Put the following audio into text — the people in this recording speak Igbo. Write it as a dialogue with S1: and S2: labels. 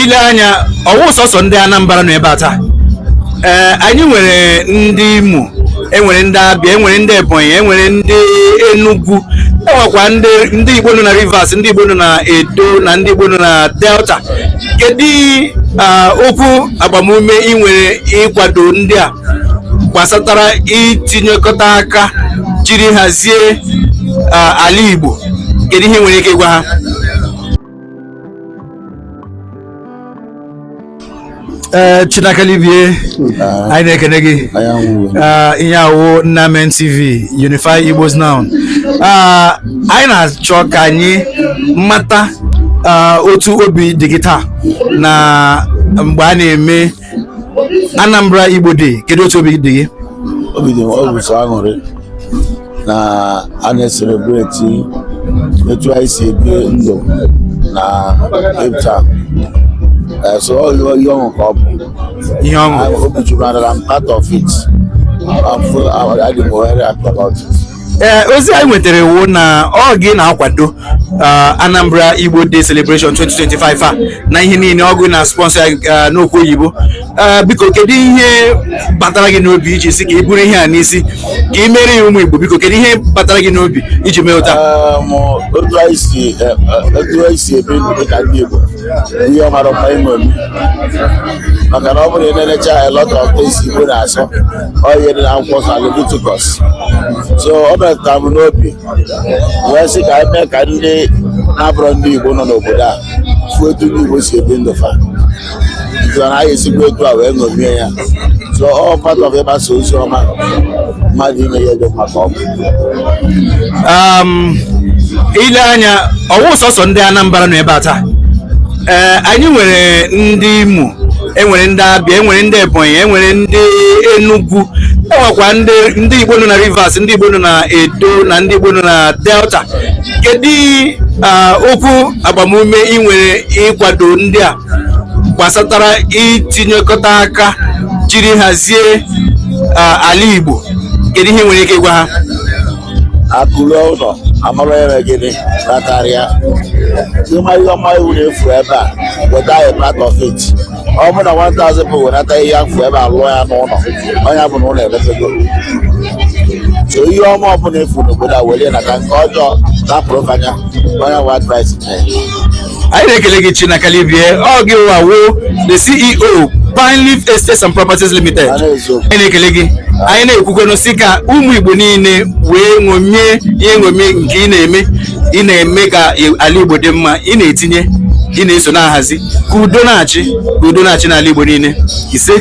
S1: ile anya ọwụ sọsọ ndị Anambra nọ ebe a taa ee anyị nwere ndị Imo enwere ndị Abịa enwere ndị Ebonyi enwere ndị Enugu enwekwa ndị Igbo nọ na Rivers ndị Igbo nọ na Edo na ndị Igbo nọ na Delta kedu okwu agbamume ị nwere ịkwado ndị a gbasatara itinyekọta aka jiri hazie ala Igbo kedu ihe ị nwere ike ịgwa ha ee eh, Chinaka Libie ah. anyị na-ekene gị ah, ihe a wụ Nnamen TV Unify Igbos Now ah, anyị na-achọ ka anyị mata otu obi dị gị taa na mgbe a na-eme Anambra Igbo Day kedu otu obi dị gị obi dị m ọ
S2: bụ sọ aṅụrị na a na-eselebreti etu anyị si ebi ndụ na Cape Town so ihe ọṅụ ka ọ bụ ihe ọṅụ
S1: obi juru adara
S2: m part of it adị m happy about it ee eh, ozi
S1: anyị nwetara wụ na ọ gị na-akwado eh, Anambra Igbo Day Celebration 2025 a na ihe niile ọ gị na-esponsor eh, n'okwu oyibo biko kedu ihe batara gị n'obi iji sị ka i buru ihe a n'isi ka i mere ya ụmụ Igbo biko kedu ihe batara gị n'obi iji mee otu a otu
S2: anyị si ebi ndụ dị ka ndị Igbo ihe ọ mara mma ime maka na ọ bụrụ na ị na-enecha a lot of things Igbo na-asọ ọ ihe dị na akwụkwọ nsọ Levitikọs so ọ metụtara m n'obi wee sị ka anyị mee ka ndị na-abụrọ ndị Igbo nọ n'obodo a fụ etu ndị Igbo si ebi ndụ fa so na anyị esikwa etu a wee ṅomie ya so ọ part of ịgbasa ozi ọma mmadụ ime ihe dị maka ọma
S1: um, ile anya ọwụ sọsọ ndị Anambra nọ ebe a taa ee eh, anyị nwere ndị Imo enwere ndị Abịa enwere ndị Ebonyi enwere ndị Enugwu enwekwa ndị ndị Igbo nọ na Rivers ndị Igbo nọ na Edo na ndị Igbo nọ na Delta kedu ah, okwu agbamume ị nwere ịkwado ndị a gbasatara itinyekọta aka jiri hazie ah, ala Igbo kedu ihe ị nwere ike ịgwa ha
S2: akụ ruo ụlọ amara onye mere gịnị kpatara ya ịma ihe ọma ọbụna ị fụ ebe a weta ya part of it ọ bụ na 1000 people wenata ihe a fụ ebe a lụọ ya n'ụlọ ọ nya bụ na ụlọ emepego so ihe ọma ọbụla ị fụ n'obodo a were ya nata nke ọjọọ rapụrụ fa nya onye nwe advice nye
S1: anyị na-ekele gị Chinaka Livie ọ gịwa wo the CEO Pine Leaf Estates and Properties Limited anyị na-ekele gị anyị na-ekwukwenụ sị ka ụmụ Igbo niile wee ṅomie ihe ṅomie nke ị na-eme ị na-eme ka ala Igbo dị mma ị na-etinye ị na-eso na-ahazi ka udo na-achị ka udo na-achị n'ala Igbo niile ise